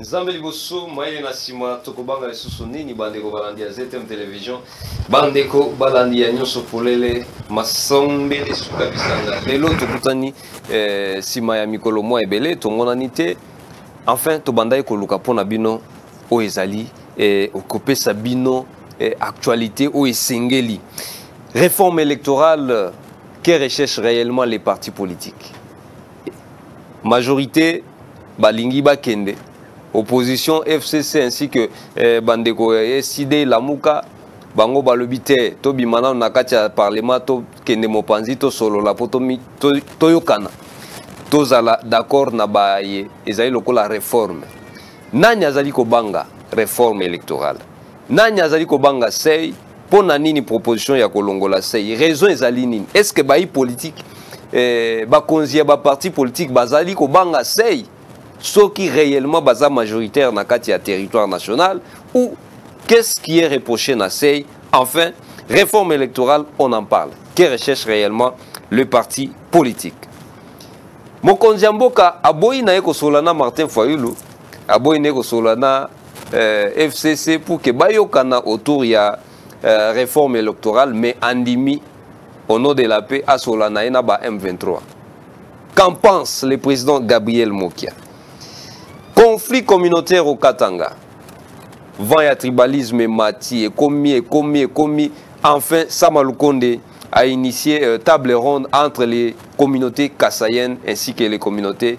nzambe liboso mayele na nsima tokobanga lisusu nini bandeko balandi ya ztm television bandeko balandi ya nyonso polele masombele suka bisanga lelo tokutani eh, nsima ya mikolo mwa ebele tomonani te enfin tobandaki koluka mpo na bino oyo ezali eh, kopesa bino eh, actualité oyo esengeli réforme électorale que recherche réellement les partis politiques majorité balingi bakende opposition fcc ainsi que eh, bandeko ya eh, sid lamuka bango balobi te tobima nano na kati ya parlement tokende mopanzi tosolola mpo toyokana tozala d'accord na baye ezali lokola reforme nani azali kobanga reforme électorale nani azali kobanga sei mpo na nini proposition ya kolongola sei raison ezali nini est ce que bayi politike eh, bakonzi ya baparti politike bazali kobanga sei soki réellement baza majoritaire na kati ya territoire national ou qu'est ce qui est reproché na sei enfin réforme électorale on en parle que recherche réellement le parti politique mokonzi ya mboka aboyi na ye kosolola na martin fayulu aboyi na ye kosolola na euh, fcc pour que bayokana autour ya euh, réforme électorale mais andimi au nom de la paix asola na ye na ba m23 qu'en pense le président gabriel mokia conflit communautaire au katanga vent ya tribalisme emati ekomi ekomi ekomi enfin sama lukonde a initié euh, table ronde entre les communautés kassayennes ainsi que les communautés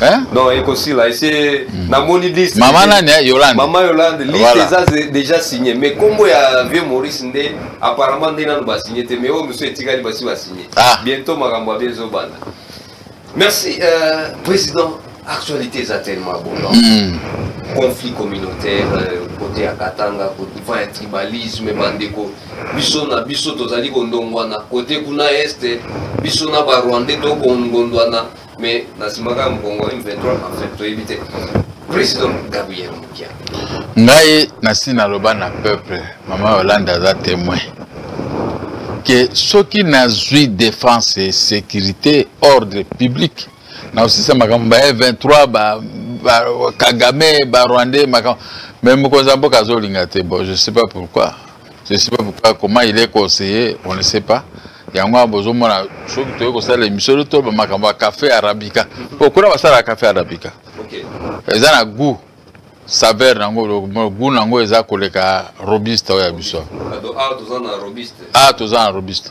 Hein? Non, ekosila ese hmm. namoni liste. Mama nani eh, Yolande? Mama Yolande, liste voilà. eza déjà signé mais kombo ya vieux Maurice nde apparemment nde nanu ba signé te mais oyo monsieur etikali basi ba signé. Ah. Bientôt makambo ya bezo banda. Merci euh, président actualité eza tellement abondante mm. conflit communautaire euh, côté ya katanga va ya tribalisme bandeko biso na biso tozali kondongwana kote kuna este biso na barwandais tokondondwana mais na sima kaka mokongo m23 enfin toyebi te président gabriel mokia ngai nasi naloba na peuple mama yolande aza témoin ke soki nazwi défense et sécurité ordre public nakosisa makambo ba m23 ba, ba kagame barwandais makambo mais mokonzi ya mboka azolinga te bon je sais pas pourquoi Je ne sais pas pourquoi, comment il est conseillé, on ne sait pas. yango wana bozomona soki toyei kosala emission to makambo ya café arabica po kuna basalaka café arabica eza na goût saveur nango goût nango eza koleka robuste oyo ya biso awa toza na robuste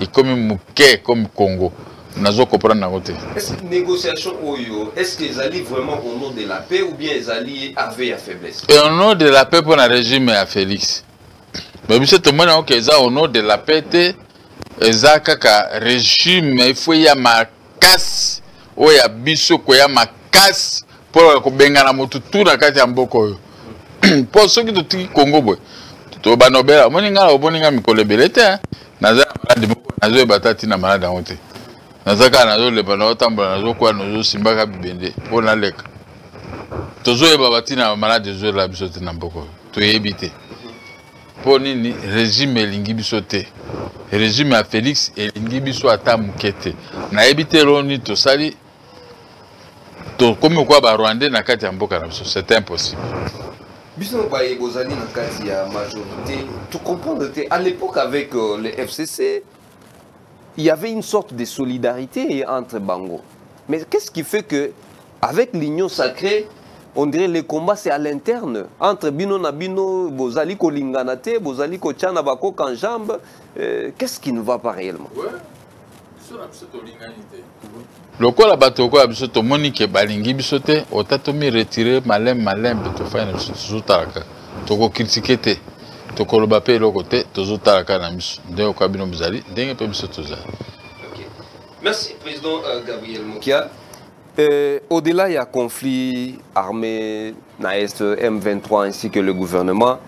ekomi moke comme congo nazo comprendre nango te négociation oyo est ce que ezali vraiment au nom de la paix ou bien ezali ave ya faiblesse et au nom de la paix mpo na régime ya félix me biso tomoni yango ke eza au nom de la paix te eza kaka régime ifo ya ma makasi oyo ya biso koya makasi mpo ya kobengana motu tu na kati ya mboka oyo mpo soki totiki kongo boye tobanobela omoni ngai na omoni ngai mikolo ebele te naza na maladi moko nazoyeba ata ntina maladi yango te naza kaka nazolepa nazotambola nazokwea nazosimbaka bibende mpo naleka tozoyeba batina ya maladi ezolela biso te na mboka oyo toyebi te mpo nini regime elingi biso te regime ya félix elingi biso ata moke te nayebi te eloo nini tosali tokomi kokoya barwandais na kati ya mboka na biso c'est impossible biso baye bozali na kati ya majorité tocomprendre te à l'époque avec euh, le fcc il y avait une sorte de solidarité entre bango mais qu'est-ce qui fait que avec l'union sacrée on dirait le combat c'est à l'interne entre bino na bino bozali kolingana te bozali kotya na bakoka en jambe euh, qu'est-ce qui ne va pas réellement ouais. lokola bato lokola biso tomoni ke balingi biso te ota tomiretire maleme maleme mpe tofai na biso tozotala kaka tokokritike te tokoloba mpe eloko te tozotala kaka na miso ndenge okoka bino mozali ndenge mpe biso tozali Merci, Président euh, Gabriel Mokia. Euh, Au-delà, il y a conflit armé, na est M23 ainsi que le gouvernement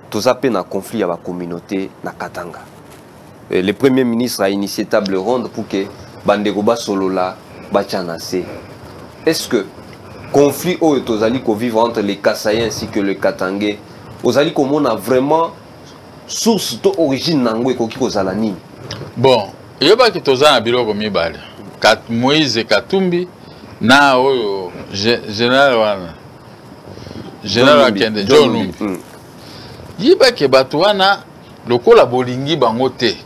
toza mpe na conflit ya ba communauté na Katanga Et le premier ministre a initié table ronde pour que bandeko basolola batya na se est ce que conflit oyo tozali kovivre entre les Kasaïens ainsi que le Katangais ozali komona vraiment source to origine na yango ekoki kozala nini bon eyebaki toza na biloko mibale Kat, moïse katumbi na oyo général wana général akende john lumbi mm. yebake bato wana lokola bolingi bango te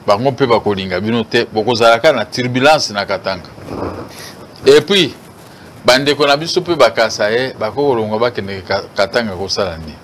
bango mpe bakolinga bino te bokozalaka na turbulence na katanga epuis bandeko na biso mpe bakasa ye bakokolongwa bakende katanga kosala nini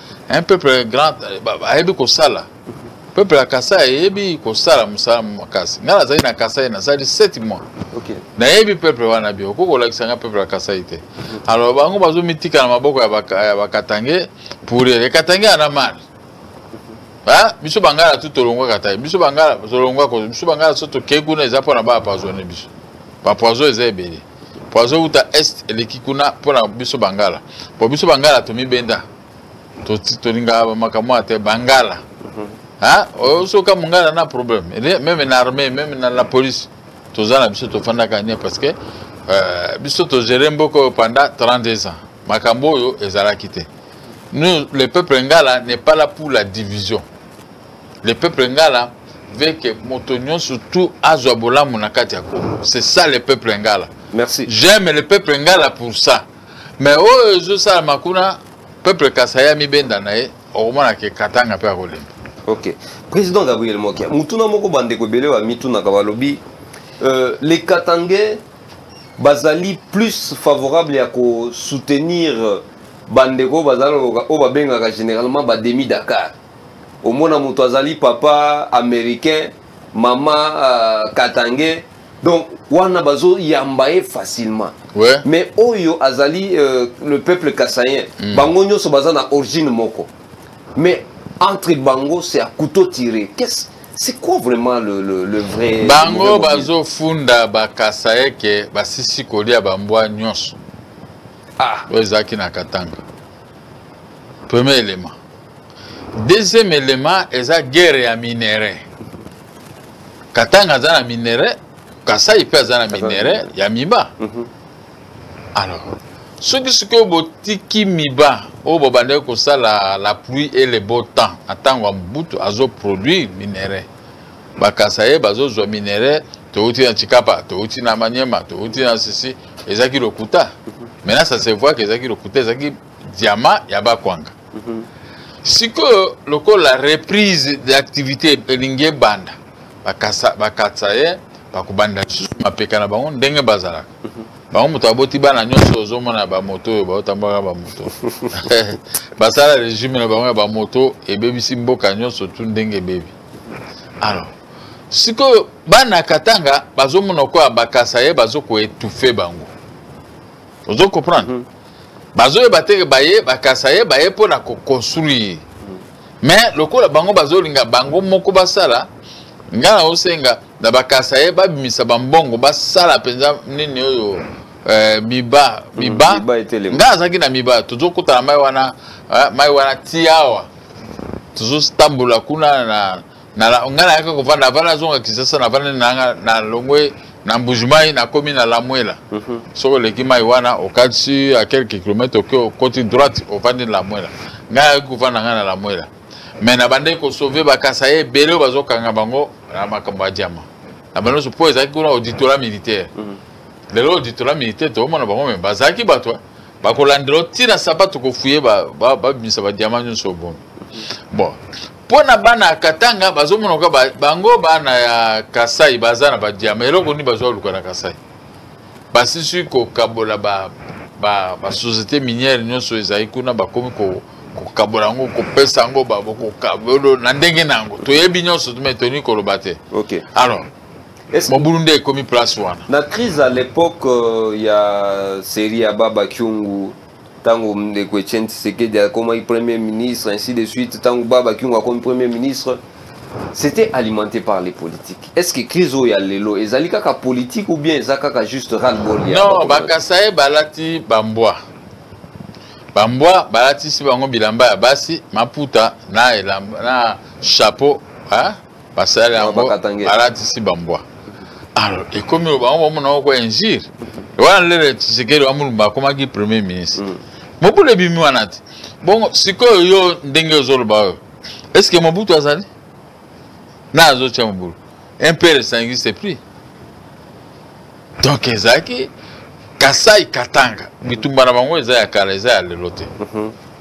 un peuple grand ayebi kosala peuple ya kasai ayebi kosala mosala makasi ngai nazali na kasai nasali 7 mois nayebi peuple wana bio okoki kolakisa ngai peuple ya kasai te alors bango bazomitika na maboko ya bakatange pour ye katange ana mare biso bangala tu tolongwa katai biso bangala tolongwa biso bangala so tokei kuna eza mpona baapoisonne biso bapoison eza ebele po azowuta est eleki kuna mpo na biso bangala po biso bangala tomibenda tolingaka makambo ya te bangala mhm. soka mongala na problème meme na armée meme na la police toza na biso tofandaka nie parce que euh, biso togere mboka oyo pendant 32 ans makambo oyo ezalaki te nous le peuple ngala n'est pas là pour la division le peuple ngala veut que moto nyonso tout azwa bolamu na kati ya congo c'est ça le peuple ngala merci j'aime le peuple ngala pour ça mais oyo ezosalama kuna peuple kasai amibenda na ye okomona ke katanga mpe akolemba ok président gabriel mokia motuna moko bandeko ebele bamitunaka balobi euh, les katangais bazali plus favorable ya kosoutenir bandeko bazali oyo babengaka généralement bademi dakar omona moto azali papa américain mama uh, katange donc wana bazoyamba ye facilement ouais. mais oyo azali euh, le peuple kasayen mm. bango nyonso baza na origine moko mais entre bango c'est à couteau tiré qu'est-ce c'est quoi vraiment le, le, le vrai bango bazofunda bakasaye ke basisi kolia bambwa nyonso ah. oyo ezalaki na katanga premier élément deuxième élément eza guerre ya minerais katanga aza na minerais kasai mpe aza na minerais ya miba mhm. alors soki sikoyo botiki miba oyo bobandaki kosala la pluie et le beau temps na ntango ya mobutu azoproduire minerais bakasa ye bazozwa minerais towuti na tshikapa towuti na maniema towuti na sisi ezalaki lokuta maintenant ça se voit que ezalaki lokuta ezalaki diamant ya bakwanga mhm. sikoyo lokola reprise d'activité elingi ebanda bakatisa ye bakobanda lisusu mapeka na bango ndenge bazalaka mhm. bango moto aboti bana nyonso ozomona bamoto oyo baotambolaka bamoto basala regime na bango ya bamoto ebebisi mboka nyonso tu ndenge ebebi alors sikoyo bana katanga bazomona okoya bakasa ye bazokoetufe bango ozo comprendre mm -hmm. bazoyeba teke baye bakasa ye baye mpo na koconstruire mais lokola bango bazolinga bango moko basala ngai naosenga na bakasa ye babimisa bambongo basala mpenza nini oyo eh, miba mm, miba ngai azalaki na miba tozokutana mai wana eh, mai wana ti awa tozotambola kuna na ngai nayaka kovanda avanda azonga kisasa navanda nanga na longwe na mbujimai nakomi na lamwela mhm. soki oleki mai wana okatisi a quelques kilomètre oke okoti droite ovandi na lamwela ngai ayaki kovanda ngai na lamwela me na bandeki kosauve bakasa ye ebele oyo bazokanga bango na makambo ya diama na bando nyonso mpo ezalaki kuna auditorat militaire mhm. lelo auditorat militaire tokomona bango me bazalaki bato eh. bakolandela ntina sapato kofuye babimisa badiama nyonso obomi bon mpo na bana ya katanga bazomonoka bango bana ya kasai baza na badiama eloko nini bazwa luka na kasai basisi kokabola basociété minière nyonso ezali kuna bakomi kokabola yango kopesa yango kokabolo na ndenge na yango toyebi nyonso me tolingi koloba te alors mobulu nde ekomi place wana na crise à l'époque euh, ya série ya baba kyungu ntango ndeko etienne tshisekedi akomaki premier ministre ainsi de suite ntango baba kiungo akomi premier ministre c'était alimenté par les politiques est ce que crise oyo ya lelo ezali kaka politique ou bien eza kaka juste ralbol non bakasaye balati bambwa bambwa balatisi bango bilamba ya basi maputa na, elamba, na chapeau hein? basala yango balatisi bambwa alors ekomi oyo bango bamona yango kwa injure wana lele tshisekedi wa mulumba akomaki premier ministre mm. mobulu ebimi wana te bongo sikoyo yo ndenge ozoloba oyo est ce que mobutu azali na azotya mobulu impere ça n'existe plus donc ezalaki kasai katanga bitumba na bango eza ya kala eza ya lelo te mhm.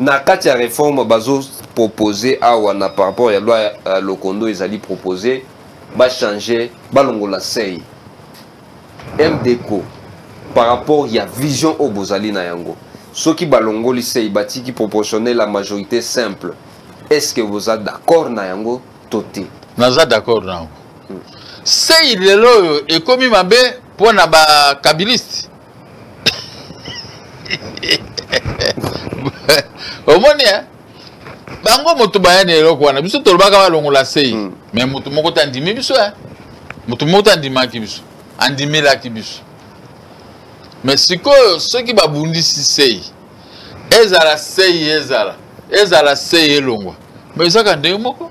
na kati ya reforme bazo propose awa na par rapport ya loi ya lokondo ezali propose bachange balongola sei mdco par rapport ya vision oyo bozali na yango soki balongoli sei batiki proportionnel ya majorité simple est ce que boza d'accord na yango to te naza d'accord na yango sei lelo oyo ekomi mabe mpo na bakabiliste omoni eh? bango moto baya na eloko wana biso tolobaka balongola sei hmm. me moto moko te andimi biso e eh? moto moko te andimaki biso andimelaki biso me sikoyo soki babundisi sei ezala sei ezala ezala sei elongwa me ezaka ndenge moko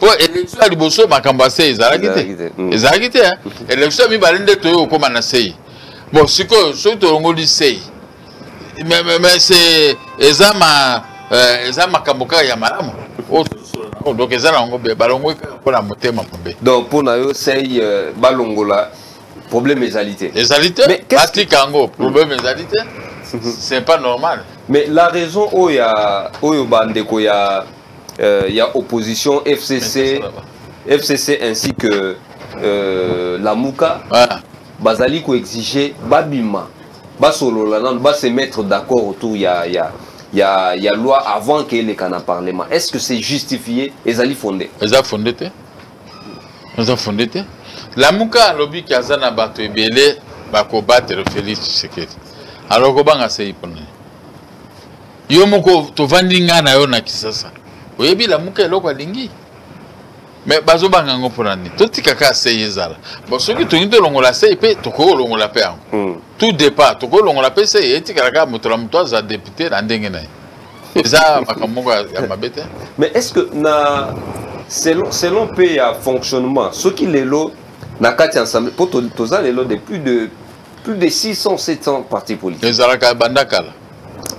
po election ya liboso makambo ya sei ezalaki te ezalaki te election ya mibale nde toyei kokóma na sei bon sikoyo soki tolongoli sei mais eza ma euh, eza makambo kaka ya malamu oyo oh, donc eza na yango be balongoli kaka mpo na motema mabe donc mpo na yo sei euh, balongola problème ezali te ezali te batika yango problème ezali te c'est pas normal mais la raison oyo oyo bandeko ya euh, ya opposition fcc fcc ainsi que euh, lamuka ah. bazali koexige babima basolola nano base mettre d'accord autour ya, ya, ya, ya loi avant keeleka na parlement est ce que c'est justifié ezali fonde eza fonde te eza fonde te lamuka alobi ke aza na bato ebele bakobatele félix tshisekedi alors kobanga sei mpona yo moko tovandi ngai na yo na kisasa oyebi lamuka eloko alingi me bazobanga yango mpona nini totika kaka sei ezala bon soki tolingi tolongola sei mpe tokoki kolongola mpe yango hmm. tout départ tokoki kolongola mpe sei etikala kaka moto na moto aza depute na ndenge na ye eza makambo moko ya mabe te mais est ce que na selon, selon mpe ya fonctionnement soki lelo na kati ya ensemble mpo toza lelo de plus de plus de 600 700 parti politique ezalaka banda kala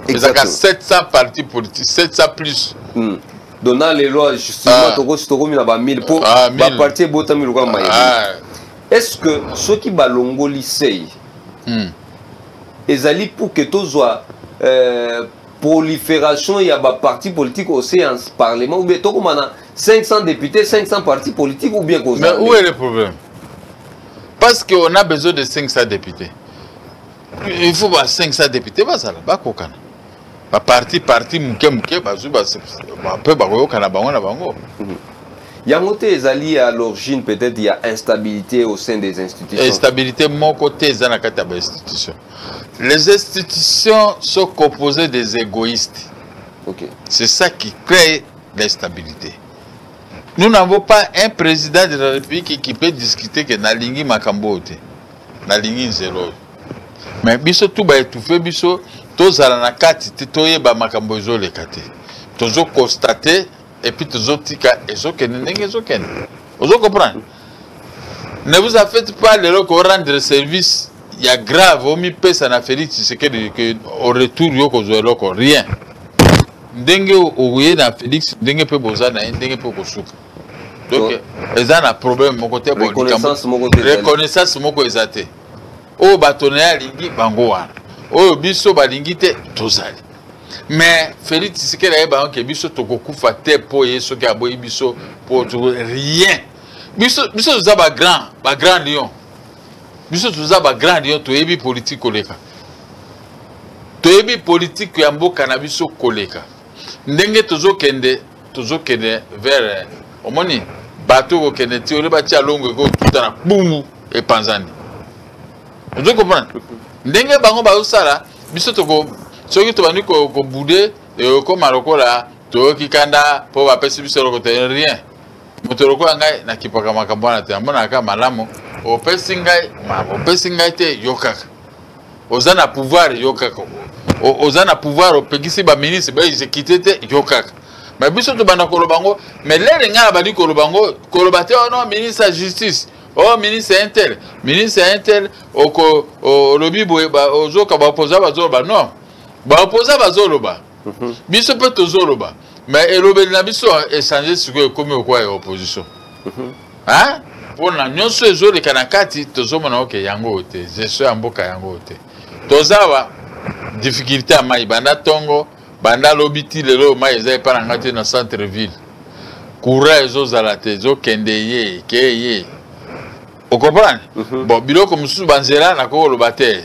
ezalaka 700 parti politique 700 plus mm. donc na lelo justement ah. tokosi tokomi na ba 1000 mpo ah, baparti ebotami lokola mayele ah. est ce que soki balongoli sei mm. ezali pour que tozwa euh, prolifération ya baparti politique au séance parlement ou bien tokoma na 500 députés 500 partis politiques ou bien kozala mais où est le problème parce qu'on a besoin de 500 députés il faut ba 500 députés bazala bakokana baparti parti moke moke bazwi mpe bakoyokana bango na bango mhm. yango te ezali à l'origine peut-être ya instabilité au sein des institutions instabilité moko te eza na kati ya bainstitution les institutions sont composées des égoïstes okay. c'est ça qui crée l'instabilité nous n'avons pas un président de la république qui peut discuter que nalingi makambo oyo te nalingi nzela oyo me biso tu baetufe biso tozala na kati te toyeba makambo ezoleka te tozokonstate epuis tozotika ezokende ndenge ezokende ozo comprendre ne vous a fait pas lelo ko rendre service ya grave omipesa na félix tshisekedi ke au retour yo kozwa eloko rien ndenge oye na félix ndenge mpe boza na ye ndenge mpe okosuka donc eza na problème moko te reconnaissance moko eza te oyo bato na ye alingi bango wana oyo biso balingi te tozali mais félix tshisekedi ayebanga ke biso tokokufa te mpo ye soki aboyi biso mpo rien biso biso toza bagrand bagrand lion biso toza bagrand lion toyebi politike koleka toyebi politike ya mboka na biso koleka ndenge tozokende tozokende vers omoni bato kokende ti ole batia longo ekotuta na bumu epanzani ozo comprendre ndenge bango bazosala biso toko soki tobandi kobude ekokoma lokola toyoki kanda mpo bapesi biso eloko te rien moto lokola ngai nakipaka makambo wana te amonaka malamu opesi ngai opesi ngai te yokaka oza na pouvoir yo kaka oza na pouvoir opekisi baministre baexekite te yo kaka me biso tobanda koloba yango me lere ngai nabandi koloba yango koloba te ono oh ministre ya justice o oh, ministre ya intel ministre ya intel oko olobi boye ozoka baopoza bazoloba non baopoza bazoloba mhm. biso mpe tozoloba me elobeli na biso echange sikoyo ekomi okwa ya opposition mhm. hein pona nyoso ezo leka na kati tozo mona oke yango ote gestion ya mboka yango ote tozawa difficulté ya mai banda tongo banda lobi ti lelo mai eza epa na ngai te na centre ville courant ezozala te ezokende ye ke ye okomprendre mm -hmm. bon biloko mosusu banzela nakoki koloba te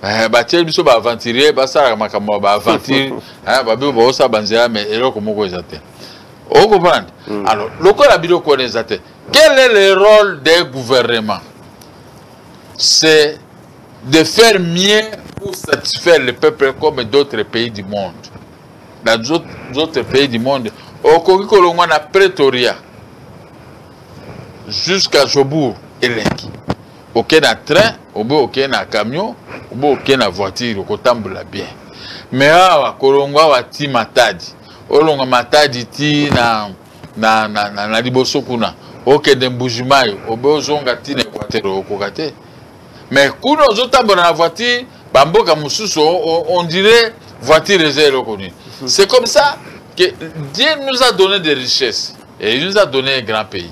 eh, batieli biso baaventurier basalaka makambo ya baaventure eh, babibo baosala banzela mai eloko moko eza te okomprendre hmm. alors lokola biloko wana eza te quel est le rôle des gouvernement c'est de faire mieux pour satisfaire le peuple comme d'autres pays du monde dans d'autres pays du monde okoki kolongwa na pretoria jusqu'à jobourg elengi okei na train obe okei na camion obe okei na voiture okotambola bien mais awa kolongwa awa ti matadi olonga matadi ti na, na, na, na, na liboso kuna okende mbujimayi obe ozonga ti na equateur okoka te mais kuna ozotambola na voiture bamboka mosusu on dirait voiture eza eloko nini mhm. c'est comme ça que dieu nous a donné des richesses et il nous a donné un grand pays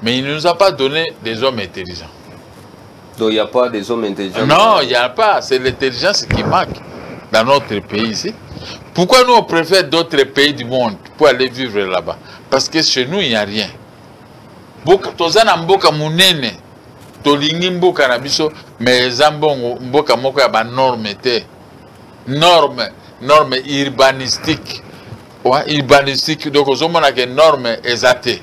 mais il ne nous a pas donné des hommes intelligents Donc il n'y a pas des hommes intelligents Non, il n'y a pas. C'est l'intelligence qui manque dans notre pays ici. Pourquoi nous on préfère d'autres pays du monde pour aller vivre là-bas Parce que chez nous, il n'y a rien. toza na mboka monene tolingi mboka na biso mais eza mbongo mboka moko ya banorme te norme norme urbanistique urbanistique donc ozomona ke norme eza te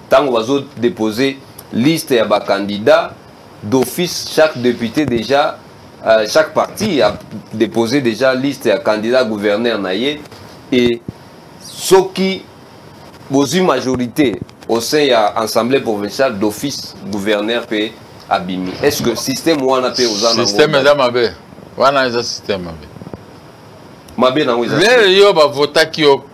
Tango bazo déposer liste ya ba candidats d'office chaque député déjà euh, chaque parti a déposé déjà liste ya candidat gouverneur na ye et soki bozwi majorité au sein ya assemblée provinciale d'office gouverneur mpe abimi est ce que système wana mpe oza système eza mabe wana eza système mabe mabe nango eza lelo yo bavotaki yo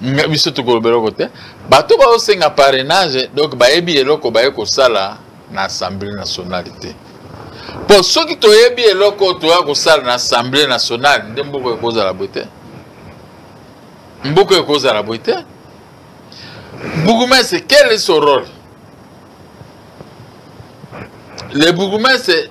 biso tokoloba eloko te bato baosenga parrainage donc bayebi eloko baye kosala na assemblée nationale te mpo soki toyebi eloko oyo toya kosala na assemblée nationale nde mboka ekozala boye te mboka ekozala boye te bourgmestre quel est son rôle le bourgmestre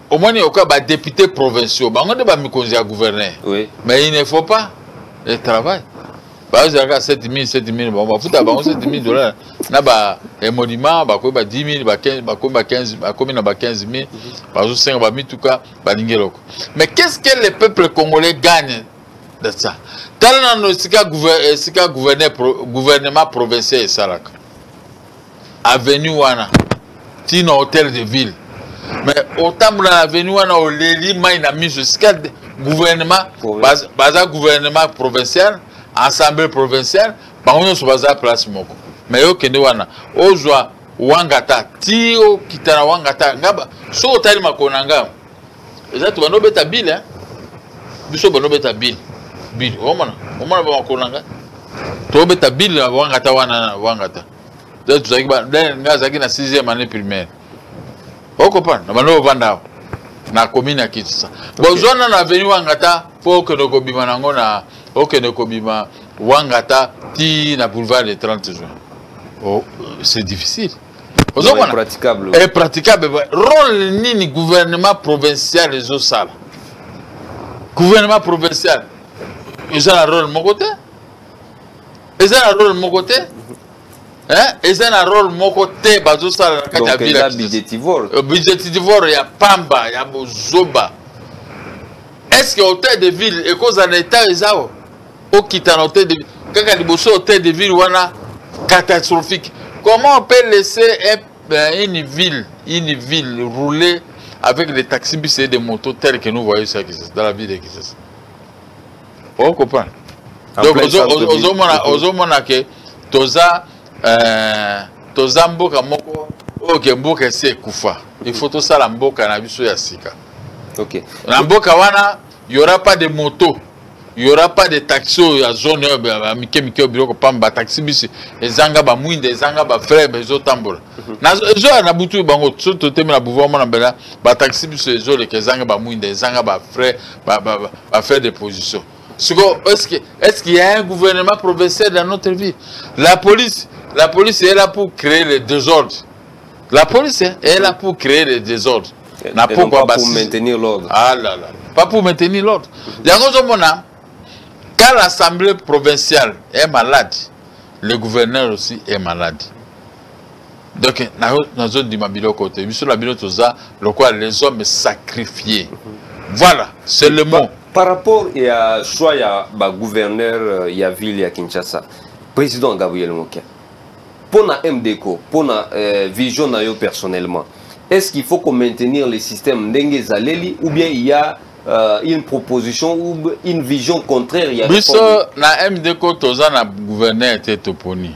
omoni oka ba député provinciaux bango nde bamikonzi ya gouverneur oui. mais il ne faut pas le travail bazalaka 7000 7000 bango bafuta bango 7000 dollars na ba emolima bakomi ba 10000 bakomi ba 15 bakomi na ba 15000 bazosenga bamituka balingi eloko mais qu'est ce que le peuple congolais gagne de ça tala nano esika gouvernement provincial esalaka avenue wana ti na hôtel de ville mais otambola na avenue wana oleli mai na miso esika gouvernement baza, baza gouvernement provincial assemblée provinciale bango nyonso baza place moko mais yo kende wana ozwa wangata ti okita na wangata nga soki otali makolo na nga eza to bano beta bill hein biso bano beta bill bill omona omona ba makolo nga to beta bill wanga ta wana wanga ta da tu zaki ba da nga zaki na 6e année primaire oko pa na bano vanda na commune ya Kitsa bozona na avenue wanga ta po que ndoko bima nango na oke ndoko bima wanga ta ti na boulevard de 30 juin oh c'est difficile ozokona praticable eh, praticable role nini gouvernement provincial ezosala gouvernement provincial eza na role moko te eza na role moko te eh, eza na role moko te bazosala na kati ya vila budgetivore euh, ya pamba ya bozoba est ce que hôtel de ville ekozala na etat ezawa okita na hotel de ville kaka liboso hotel de ville wana catastrophique comment on peut laisser un, ben, une ville une ville rouler avec des taxibus et des motos tels que nous voyons ça dans la ville de Kisasa on comprend donc ozomona ke toza euh, toza mboka moko oyo ke mboka esi ekufa il faut tosala mboka na biso ya sika okay. na mboka wana Il y aura pas de moto. Il y aura pas de taxi oyo ya zone oyo ya mike mike oyo biloko pamba ba taxi bus ezanga ba mwinda ezanga ba frère ezo tambola. Mhm. Na ezo ya na butu bango so to teme na pouvoir mona bela ba taxi bus ezo le ezanga ba mwinda ezanga ba frère ba ba, ba, ba frère de position. Siko est-ce que est-ce qu'il y a un gouvernement provincial dans notre vie? La police la police est là pour créer le désordre. La police est là pour créer le désordre. na pokwa basi maintenir l'ordre ah là là pas pour maintenir l'ordre yango ozomona quand l'assemblée provinciale est malade le gouverneur aussi est malade donc nazondima biloko te biso na bino toza lokola les hommes sacrifiés voilà c'est le mot par rapport ya choix ya bagouverneur euh, ya ville ya kinshasa président gabriel mokia Pour na MDECO, pour na euh, vision na yo personnellement, est-ce qu'il faut qu'on maintenir le système ndenge zaleli ou bien il y a euh, une proposition ou une vision contraire il y a Biso na MDECO toza na gouverneur te toponi.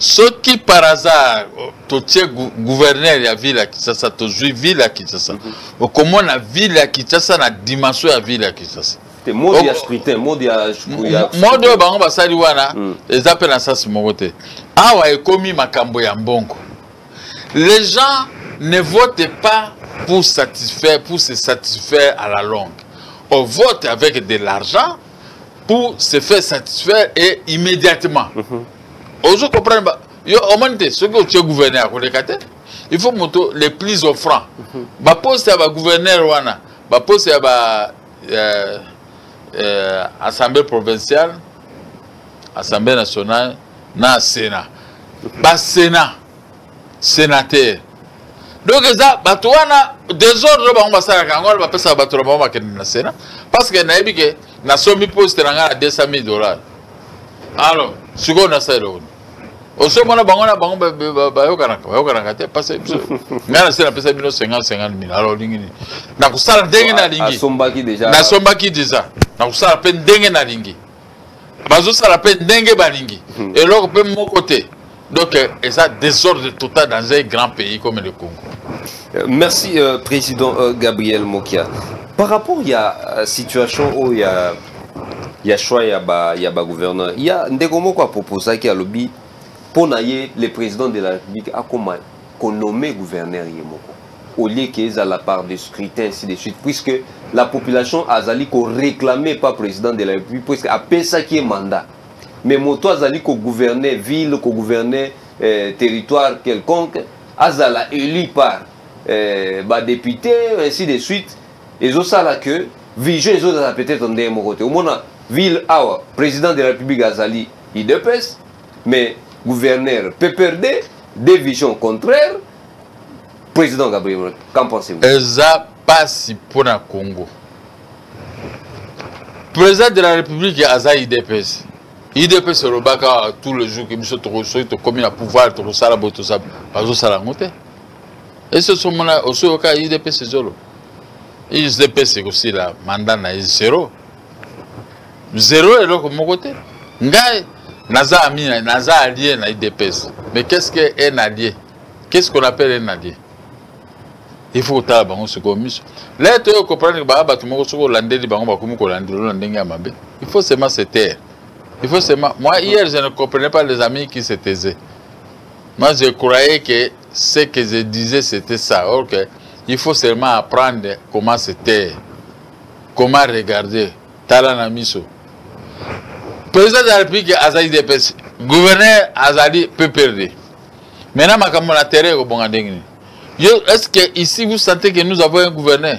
soki par hasard oh, totie gouverneur ya ville ya kinshasa tozwi ville ya kinshasa mhm. okomona ville ya kinshasa na dimension ya ville ya kinshasa te mode ya scrutin mode ya mode oyo bango basali wana hmm. eza mpe na sasi moko te awa ekomi makambo ya mbongo les gens ne votent pas pour satisfaire pour se satisfaire à la longue on vote avec de l'argent pour se faire satisfaire et immédiatement mm -hmm. ozo comprendre yo omoni te soki otie gouverneur akoleka te il faut moto les plus offrant mhm. baposte ya bagouverneur wana baposte ya ba euh, euh, assemblée provinciale assemblée nationale na sénat basena sénateur donc eza bato wana desordre bango basalaka yango wana bapesaka bato na bango bakende na sénat parce que nayebi ke nasombi poste na ngai na 200 000 dollars alors sikoyo nasala eloko osomona bango na bango bayokanaka bayokanaka te pasi biso ngai nase napesa bino 50 50 mil alors olingi nini nakosala ndenge nalingi nasombaki deja nakosala mpe ndenge nalingi bazosala mpe ndenge balingi hmm. eloko mpe moko te donc euh, eza désordre total dans un grand pays comme le congo euh, merci euh, président euh, gabriel mokia par rapport ya euh, situation oyo ya ya choix ya ba ya ba gouverneur ya ndeko moko aproposaki alobi mpo na ye le président de la république akoma konome gouverneur ye moko au lieu que ezala par de scrutin ainsi de suite puisque la population azali koréclame pas président de la république puisque apesaki ye mandat mais moto azali kogouverne ville kogouverne euh, territoire quelconque azala élu par euh, badéputé ainsi de suite ezosala que vision ezozala peut-être ndenge moko te omona ville awa président de la république azali idps mais gouverneur pprd deux visions contraires président gabriel qu'en pensez-vous eza pasi mpo na congo président de la république aza idps idps elobaka tout le jour ke biso soki tokomi na pouvoir tokosala boye tozosala yango te esi osomona osoyoka udps ezolo udps ekosila manda na ye zero zero eloko moko te ngai naza ami naza allié na udps mais qu'est ce que un allié qu'est ce qu'on appelle un allié il faut kotala bango sikoyo miso le toyo comprendre baa bato moko soki olandeli bango bakomi kolandela na ndenge ya mabe il faut seulement se taire il faut seulement moi hier je ne comprenais pas les amis qui se taisaient Moi, je croyais que ce que je disais, c'était ça. Or que il faut seulement apprendre comment se taire, comment regarder. Tala na miso. Président de la République azali DPS, gouverneur azali PPRD. Maintenant, makambo na terrain ekobonga ndenge nini? Est-ce que ici vous sentez que nous avons un gouverneur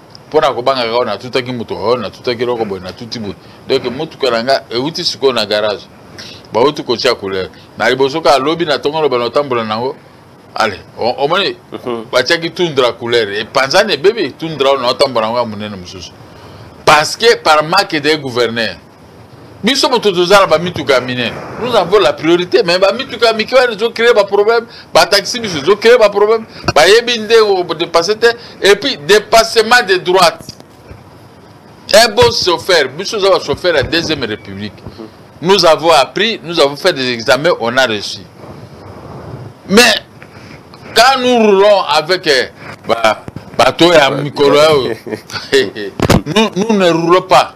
mpo na kobangaka oyo natutaki motuka oyo natutaki eloko boye natuti boye donk motuka na nga euti sikoyo na garage bauti kotia couleur na liboso kaka lobi na ntongo loba na otambola na yango ale omoni mhm. batiaki tundra couleur epanzani ebebi tundra oyo na otambola na yango ya monene mosusu parce que par manque de gouverneur biso moto toza na bamituka ya minene nous avons la priorité mais bamituka ya mike wana ezocree baproblème bataxi biso ezocree baproblème bayebi nde odepasse te et puis dépassement de droite un bon chauffeur biso oza bachauffeur ya deuxième république nous avons appris nous avons fait des examens on a reçu mais quand nous roulons avec eh, bato ya mikolo oyo nous ne roulons pas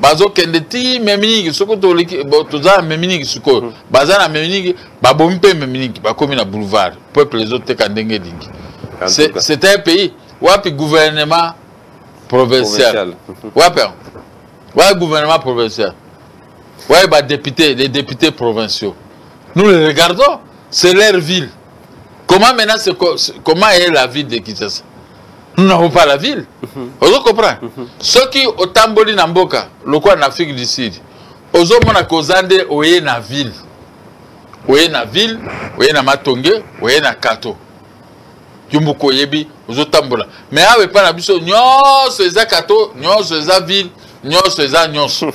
bazokende ti meminiki soki toza na meminiki sikoyo hmm. baza na meminiki babomi mpe meminiki bakomi na boulevard peuple ezoteka ndenge elingi c'est un pays wapi gouvernement provincial wapi yango wapi gouvernement provincial wapi badepute les députés provinciaux nous les regardons c'est leur ville comment maintenant comment est la ville de kinshasa nous n'avons pas la ville mhm. ozo comprendre mhm. soki otamboli na mboka lokola na afrique du sud ozomona koza nde oye na ville oye na ville oye na matonge oye na kato yo moko oyebi ozotambola mais awa epai na biso nyonso eza kato nyonso eza ville nyonso eza nyonso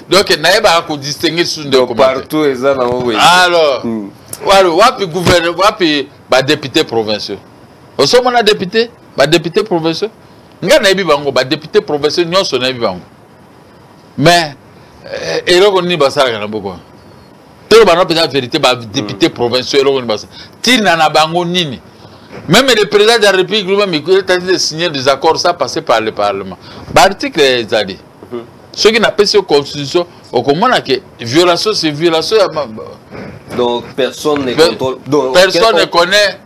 donc nayebaka kodistingue susu ndekopartout eza nango alors hmm. wapi gouverne wapi badepute provinciaux osomona depute badepute provinciaux ngai nayebi bango badepute provinciaux nyonso nayebi bango mais eh, eloko nini basalaka na boko tolo bana mpenza verité badepute mm. provinciaux eloko nini basala ntina na bango nini Même le président de la République lui-même, il est en train de signer des accords, ça passé par le Parlement. Bah, article est dit. Mhm. Ceux qui n'appellent pas constitution, au comment que violation, c'est violation. Donc personne ne contrôle. Donc, personne ne connaît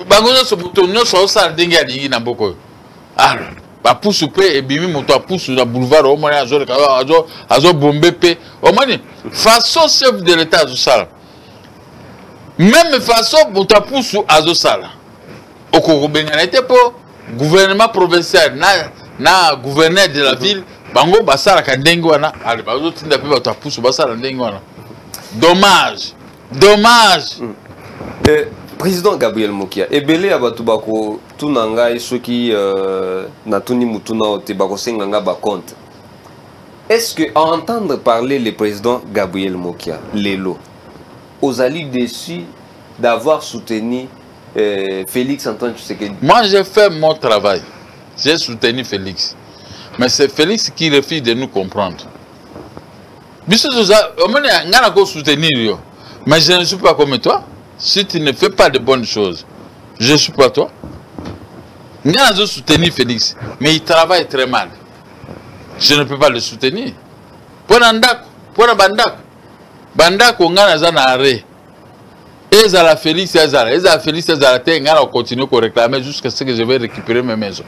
bango nyonso moto nyonso aosala ndenge alingi na mboka oyo ah, bapusu mpe ebimi moto apusu na boulevard omoni azoleka azobombe mpe omoni façon chef de l'état azosala meme façon moto apusu azosala okoki kobengana ye te mpo gouvernement provincial na, na gouverneur de la ville bango basalaka ndenge wana bazotinda mpe bato apusu basala ndenge wana dommage dommage mm. eh, président gabriel mokia ebele ya bato bakotuna ngai soki euh, natuni motuna oyo te bakosenga ngai bacompte est ce que à entendre parler le président gabriel mokia lelo ozali déçu d'avoir soutenu euh, félix antoine tshisekedi moi j'ai fait mon travail j'ai soutenu félix mais c'est félix qui refuse de nous comprendre biso toza omoni ngai nako soutenir yo mais je ne suis pas comme toi si tu ne fais pas de bonnes choses je suis pas toi ngai nazo soutenir félix mais il travaille très mal je ne peux pas le soutenir mpo na ndako mpo na bandako bandako ngai naza na arret ezala Felix azala ezala Felix azala te ngai na continue ko réclamer jusqu'à ce que je vais récupérer mes maisons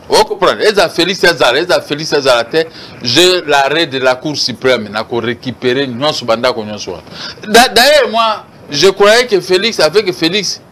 o comprendre ezala Felix azala ezala Felix azala te je l'arrêt de la cour suprême na ko récupérer nyonso bandako nyonso wana d'ailleurs moi je croyais que Felix avec Felix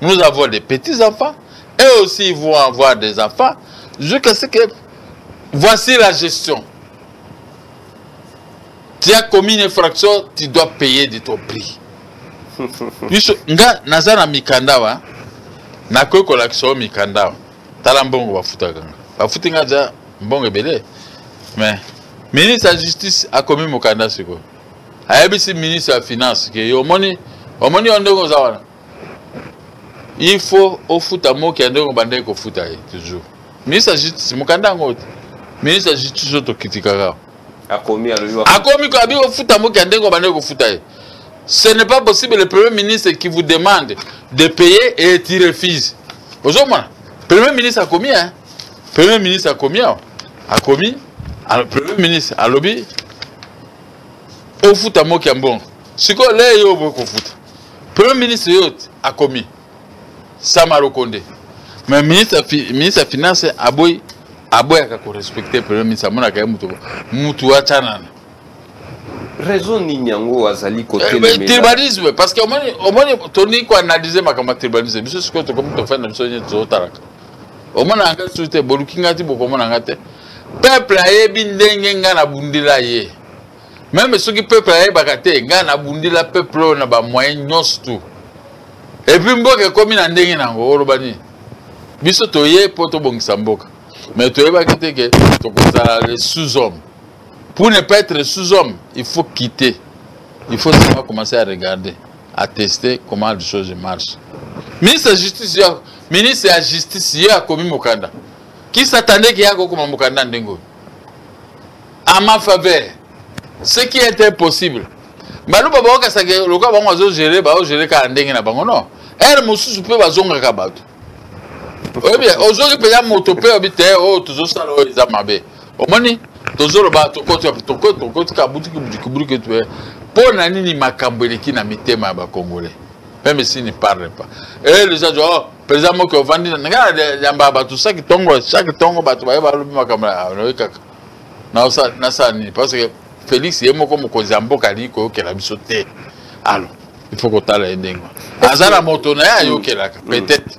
nous avons des petits-enfants, et aussi ils vont avoir des enfants, jusqu'à ce que voici la gestion. Tu as commis une infraction, tu dois payer de ton prix. biso nga naza na mikanda wa nakoki kolakisa yo mikanda wa tala mbongo bafutaka nga bafuti nga aza mbongo ebele mais ministre ya justice akomi mokanda sikoyo ayebisi ministre ya finance ke yo omoni omoni yo ndenge oza wana il faut ofuta moki ya ndenge obandaki kofuta ye toujours ministre ya justice mokanda yango te ministre ya justice oyo tokitikaka akomi akomi ko abi kofuta moki ya ndenge obandaki kofuta ye ce n'est pas possible le premier ministre qui vous demande de payer et tu refuses ozomona premier ministre akomi hein premier ministre akomi awa akomi premier ministre alobi ofuta moki ya mbongo sikoyo le yo oboyi kofuta premier ministre yo akomi samarokonde mais ministre, ministre ya finance aboyi aboyaka korespecte premier ministre amonaka ye moto moto acanana raison nini yango azali kotribalisme eh, parce que omoni toni koanalyse makambo ya tribalisme biso sikoyo tokomi tofanda biso nyeti tozotalaka omonaka nga lisusu te boluki nga ti bokomona nga te peuple ayebi ndenge nga nabundela ye meme soki peuple ayebaka te nga nabundela peuple oyo na bamoyen nyonso tu epuis mboka ekomi na ndenge nango oloba nini biso toye mpo tobongisa mboka mais toyebaki te ke tokozala le sous homme pour ne pas être sous homme il faut quitter il faut seulement commencer à regarder attester comment les choses marchent. Ministre ya justice yo, ministre ya justice yo akomi mokanda. Qui s'attendait qu'il y a kokoma mokanda ndenge oyo? À ma faveur, ce qui est impossible. Baluba bakokasaka lokola bango bazogere baogere kaka ndenge na bango non. Ere mosusu mpe bazongaka bato. Oyebi, ozongi mpenza moto mpe oyebi te oyo oh, tozosala oyo eza mabe. omoni tozoloba tokotika butiki butiki butiki tue mpo na nini makambo eleki na mitema ya bakongole meme si ne parle pas e eh, leza jo oh, président moki ovandi na ngai yamba bato saki ntongo chaque ntongo bato baye balobi makambo nayoki ah, kaka nasala nini parce que félix ye moko mokonzi ya mboka alingi koyokela biso te alors il faut kotala ye ndenge aza na moto na ye ayokelaka peut-être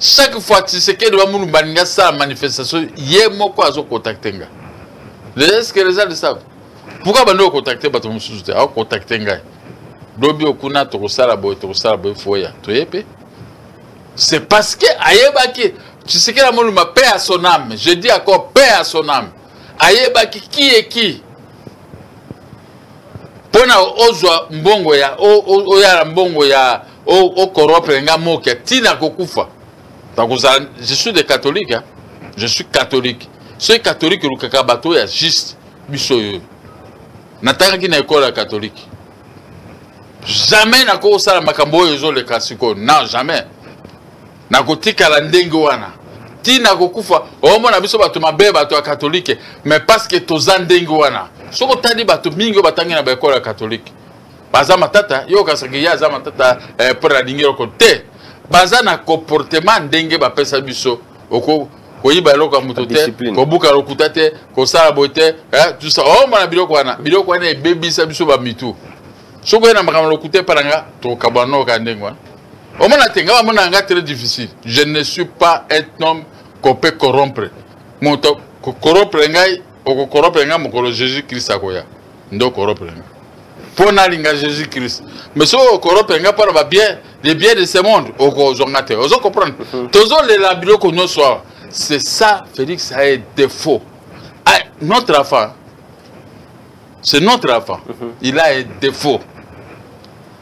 chaque fois tisekedi wa mulumba alingi asala manifestation ye moko azokontakte nga est-ce que les gens le savent pourquoi bandi okontakte bato mosusu te aokontakte ngai lobi okuna tokosala boye tokosala boye foya toye mpe c'est parce que ayebaki tshisekedi amoluma paix à son âme je dis encore paix à son âme ayebaki qui est qui mpo na ozwa mbongo ya oyala mbongo ya o corrompre nga moke tina kokufa nakozala je suis de catholique hein? je suis catholique soki catholique olukaka bato ya juste biso oyo natangaki na ekole ya catholique jamais nakosala makambo oyo ezoleka sikoyo non jamais nakotikala ndenge wana ntina kokufa omona biso bato mabe bato ya katolike mais parceke toza ndenge wana soki otali bato mingi oyo batangi na baekole ya katolike baza matata yo okasaki ye aza matata eh, mpo na lingi eloko te baza na comportement ndenge bapesa biso oko koyiba eloko ya moto te kobuka lokuta te kosala boye te eh, tusa omona oh, biloko wana biloko wana ebebisa biso bamitu soki oye na makambo lokuta epa na nga tokabwana noka ndenge wana omona te nga bamona nga très difficile je ne suis pas un homme qu'on peut corrompre moto corrompre ngai okokoropre nga mokolo jésus christ akoya nde okoropre nga mpo nalinga jésus christ mais soki okoropre nga mpo na babien les biens de ce monde okozwa nga te ozo comprendre mhm. tozolela biloko nyonso awa c'est ça félix aye défaut ah, notre enfant c'est notre enfant mhm. il a un défaut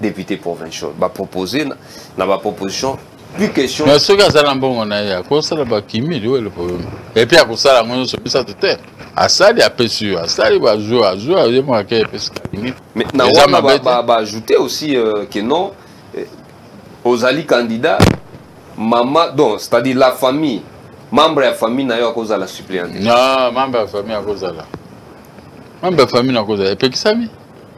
député provincial ba proposer na, na ba proposition plus question mais soki azala mbongo na ye akosala bakimi liwe le problème et puis akosala yango nyonso misato te asali apesi yo asali bazwi azwi aye moyake epesi kakimi mais na wana baajoute ba, ba aussi euh, que non euh, ozali candidat mama donc c'est à dire la famille membre ya famille na yo akozala suppléant non membre ya famille akozala membre ya famille nakozala epekisami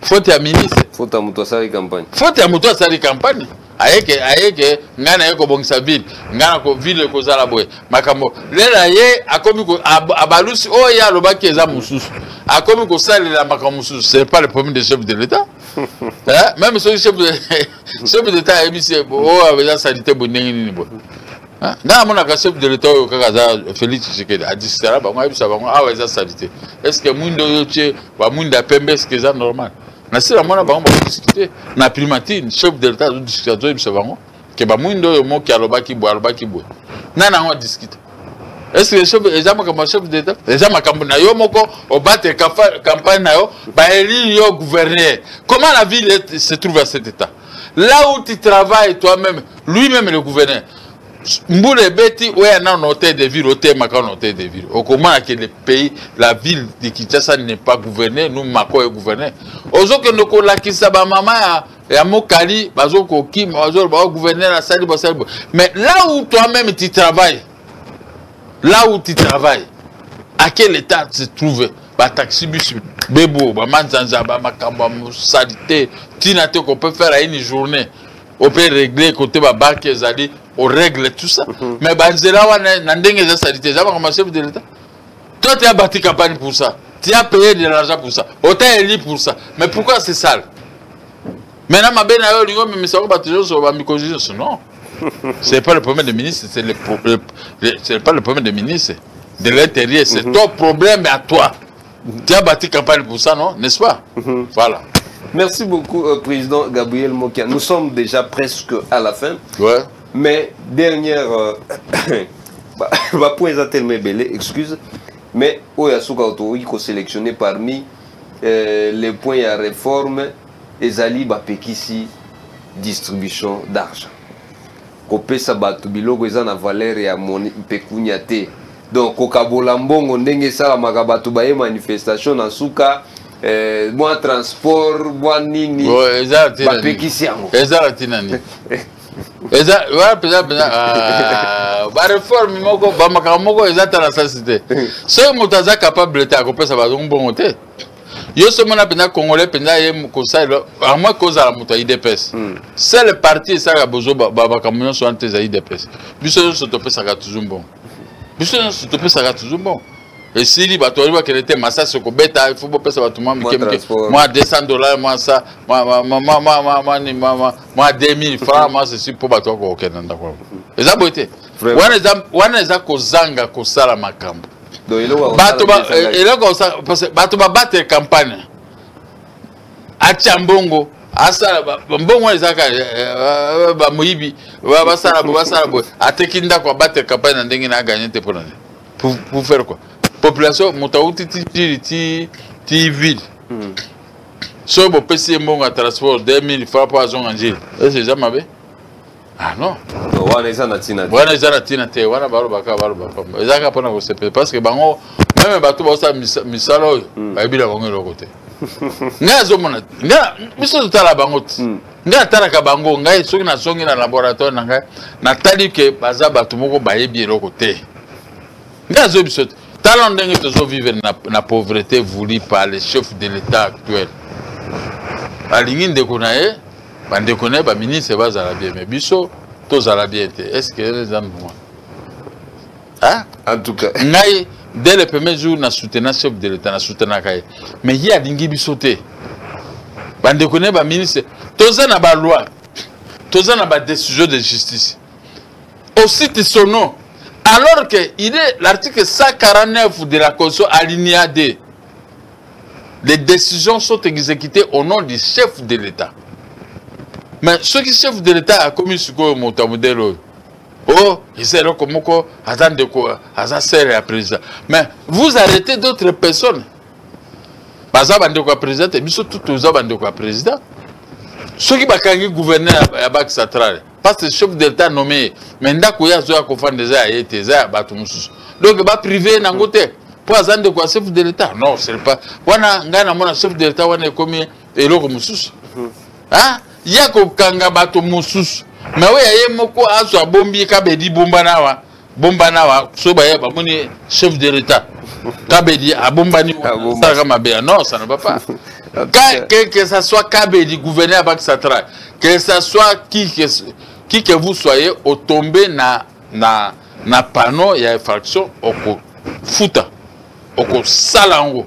faute ya ministre faute ya moto asali campagne faute ya moto asali campagne ayeke ayeke ngai naye kobongisa ville ngai na ville ekozala boye makambo lela ye akomi abalusi oyo oh, ye alobaki eza mosusu akomi kosalela makambo mosusu c'est pas le premier de chef de l'état hein? même soki chef de chef de l'état ayebisi oyo oh, eza salite boye ndenge nini boye Ah, nga namonaka chef de l'etat oyo kaka aza félix tshisekedi adistara bango ayebisa bango awa ah eza salite est ce que mwindo oyo tye bamwinda ya pembe est ce que eza normal na si namona bango bakodiskute na primatine chef de l'etat azodiskute azoyebisa bango ke bamwindo oyo moki alobaki boye alobaki boye nani yango adiskute est ce que chef eza makambo ya chef de l'etat eza makambo na yo moko obate campagne na yo baelire yo gouverneur comment la ville se trouve à cet état là où tu travailles toi-même lui-même le gouverneur mbula ebeti oya nano hôtel de ville otemaka na hôtel de ville okomona ke le pays la ville de kinshasa n'est pas gouverne nous mako egouverne ozokende kolakisa bamama ya ya mokali bazokokima bazoloba bagouverneur asali basali mais là où toi-même tu travailles là où tu travailles à quel état se trouve bataxi bus bebo bamanzanza bamakambo ya mosalite ntina te qu'on peut faire à une journée on peut régler côté babanke ezali on règle tout ça mhm. mais banzela wana na ndenge eza salite eza makambo ya chef de l'état toi tu as bâti campagne pour ça tu as payé de l'argent pour ça otaeli pour ça mais pourquoi c'est sale Mais na mabe na yo olingi omemisa yango bato nyonso bamikonzi nyonso non c'est pas le problème des ministres c'est le, le, le, c'est pas le problème des ministres de l'intérieur c'est mm -hmm. ton problème à toi mhm. tu as bâti campagne pour ça non n'est-ce pas mm -hmm. voilà merci beaucoup euh, président Gabriel Mokia nous sommes déjà presque à la fin ouais. mais dernière euh, bah, point eza tellement ebele excuse mais oyo asuka otokoki koselectionne parmi euh, les points ya réforme ezali bapekisi distribution d'argent kopesa bato biloko eza na valeur ya moni pekunia te donc kokabola mbongo ndenge esalamaka bato baye manifestation na nsuka eh, mwa transport mwa nini bapekisi yango ezala ntina nini eza wana mpenza mpenza ah, bareforme moko bamakambo moko eza tala sasi te soki moto aza capable te akopesa bazongo mbongo te yo soki omona mpenza congolais mpenza ye kosalela amoi kozala moto ya idps hmm. sele parti esalaka bozo bamakambo nyonso wana te eza idps biso nyonso topesaka toujours mbongo biso nyonso topesaka toujours mbongo esili bato bayebi bakende te masasi okobeta ifo bopesa bato mwa mike mike mwa 200 dollar mwa sa mwa 2000 franc mwa sesi mpo bato bakokokenda ndako yango eza boye te wana eza kozanga kosala makambo bato eh, babatele campagne atya mbongo asala mbongo wana ezalaka eh, eh, bamoyibi basala bo basala boye ateki ndako abatele campagne na ndenge na aganye te mpo na nini pour faire quoi population moto awuti titili ti ti ville hmm. soki bopesi ye mbongo ya transport 2000 fa mpo azonga njili ese eza mabe ah non wana eza na ntina wana eza na ntina te wana balobaka baloba pamba eza kaka mpona kosepela parce que bango meme bato baosala misala oyo hmm. bayebi na bango eloko te ngai azomona ngai biso totala bango ti hmm. ngai atalaka bango ngai soki nazongi na laboratoire na ngai natali ke baza bato moko bayebi eloko te ngai azoyebi biso te tala ndenge tozovivre na, na pauvreté voulu par le chef de l'état actuel alingi ndeko na ye bandeko na ye baministre bazala bien me biso tozala bien te est ce que eza mbuma en tout cas ngai dès le premier jour na soutena chef de l'état na soutenaka ye mais ye alingi biso te bandeko na ye baministre toza na baloi toza na badécision de justice osite son nom alors que il est l'article 149 de la constitution alinéa 2 les décisions sont exécutées au nom du chef de l'état mais ce qui chef de l'état a commis ce que mon modèle oh, oh ils eza comme moko aza ndeko aza sere ya président mais vous arrêtez d'autres personnes baza bandeko ya président te biso tout toza bandeko ya président soki bakangi gouverneur ya banque centrale parce que chef de l'État nommé ye mais ndako ye azoya kofanda eza ya ye te eza ya bato mosusu donc baprive ye nango te mpo aza ndeko ya chef de l'État non ce pas wana ngai namona chef de l'État wana ekomi eloko mosusu mhm. ah, ya kokanga bato mosusu mais oyo ya ye moko azwa bombi kabedi bombana awa bombana awa so baye bamoni chef de l'etat kabedi abombani salaka mabe ya non ça ne va pas que, que ça soit kabedi gouverneur ya banque centrale que ça soit qui que, qui que vous soyez otombe na, na, na panneau ya infraction okofuta okosala yango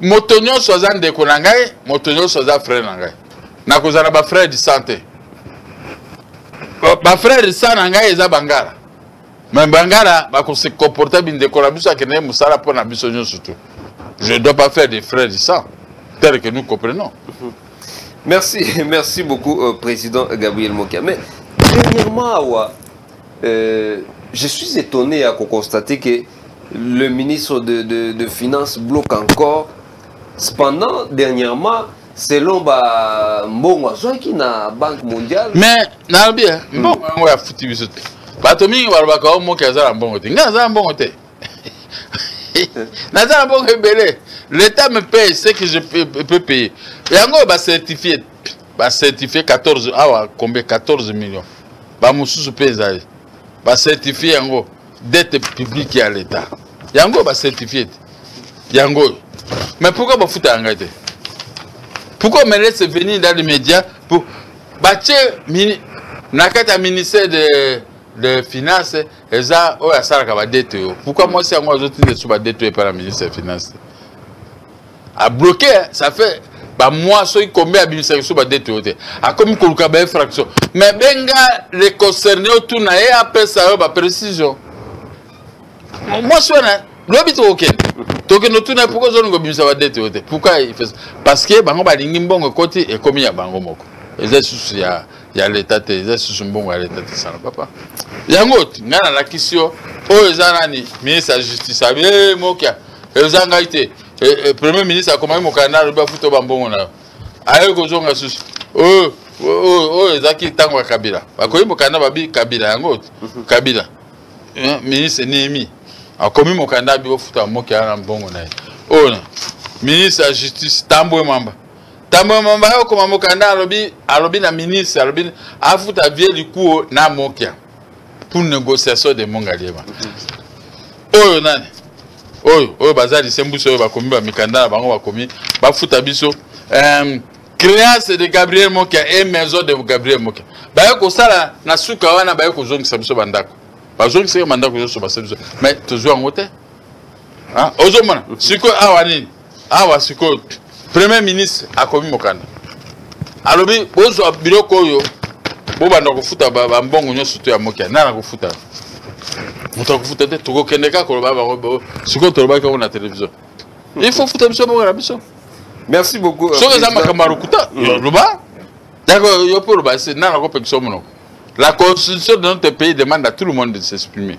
moto nyonso aza ndeko na ngai moto nyonso aza frere na ngai nakozala bafrere du sang te bafrere du sang na ngai eza bangala me bangala bakose comporte bindeko na biso akende mosala mpo na biso nyonso tu je dois pas faire des frères du sang tel que nous comprenons mhm. merci merci beaucoup euh, président gabriel mokia mais dernièrement awa Euh, je suis étonné à constater que le ministre de, de, de Finances bloque encore. Cependant, dernièrement, selon ba mbongo azwaki na banque mondiale mais nalobi eh, hmm. mbongo yango ya futi biso te bato mingi balobaka o oh, moki aza na mbongo te ngai aza na mbongo te naza na mbongo ebele l'état me paye ce que je peux payer yango bacertifie ba certifie 14 awa kombe 14 million bamosusu mpe ezali bacertifie yango dette publique ya leta yango bacertifie te yango oyo mais pourquoi bafutaka ngai te pourquoi me laisse venir dans les médias pour batie na kati ya ministère de de finance eza oyo asalaka badete yo pourkui mwasi yango azotinda esu badete yo epai na ministre ya finance te a bloqué hein. ça fait ba mois soki combien abimisa biso ba dette oyo te akomi koluka ba infraction mais benga le concerné otuna ye apesa yo ba précision mwasi wana lobi tokokende tokende otuna ye pourkoi ozolinga obimisa ba dette oyo te pourkoi parce que bango balingi mbongo ekoti ekomi ya bango moko eza lisusu ya ya leta te eza lisusu mbongo ya leta te sana papa yango ngai nalakisi yo oyo eza nani ministre ya justice abi mokia eza ngai te eh, eh, premier ministre akomaki mokanda alobi afuta bambongo na yo aye kozonga susu oyo oyo ezalaki ntango ya kabila bakomi mokanda babi kabila yango mhm. kabila eh, ministre nehemi akomi mokanda abi ofuta moke wana mbongo na ye oyo ministre ya justice tambwe mwamba tambwe mwamba ye okoma mokanda alobi alobi na ministre alobi afuta vie likuo na mokia pour négociation de mongaliema oyo nani oyo oyo baza lisembusi oyo bakomi bamikanda na bango bakomi bafuta biso um, créance de gabriel mokia e maison de gabriel mokia baye kosala na suka wana baye kozongisa biso bandako bazongisaki bandako nyonso basali biso mais tozwi yango te ozomona sikoyo awa nini awa sikoyo premier ministre akomi mokanda alobi bozwa biloko oyo bobanda kofuta bambongo nyonso to ya mokia nani akofuta moto akofuta te tokokende kaka koloba bango sikoyo tolobaki yango na televizio hmm. il faut futa biso bongo na biso merci beaucoup soki eza makambo ya lokuta hmm. loba yako yo mpe oloba se nani akopekisa yo monoko la constitution de notre pays demande à tout le monde de s'exprimer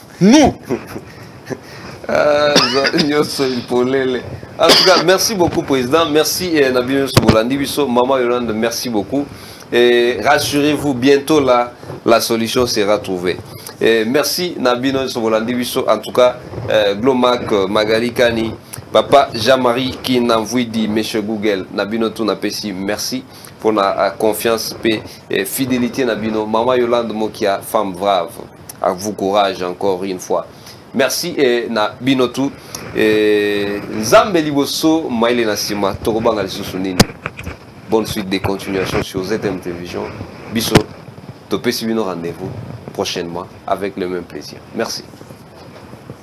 nous nyonso euh, polele en tout cas merci beaucoup président merci eh, na bino nyonso bolandi biso maman yolande merci beaucoup et rassurez-vous bientôt là la solution sera trouvée et merci na bino nyonso bolandi biso en tout cas eh, glomac magali kani papa jean-marie kinamvuidi monsieur google na bino tout napesi merci mpona euh, confiance mpe euh, fidélité na bino mama yolande mokia femme brave à vous courage encore une fois merci et na bino tout et nzambe liboso maile na sima tokobanga lisusu nini bonne suite des continuations sur ZM Télévision biso topesi bino rendez-vous prochainement avec le même plaisir merci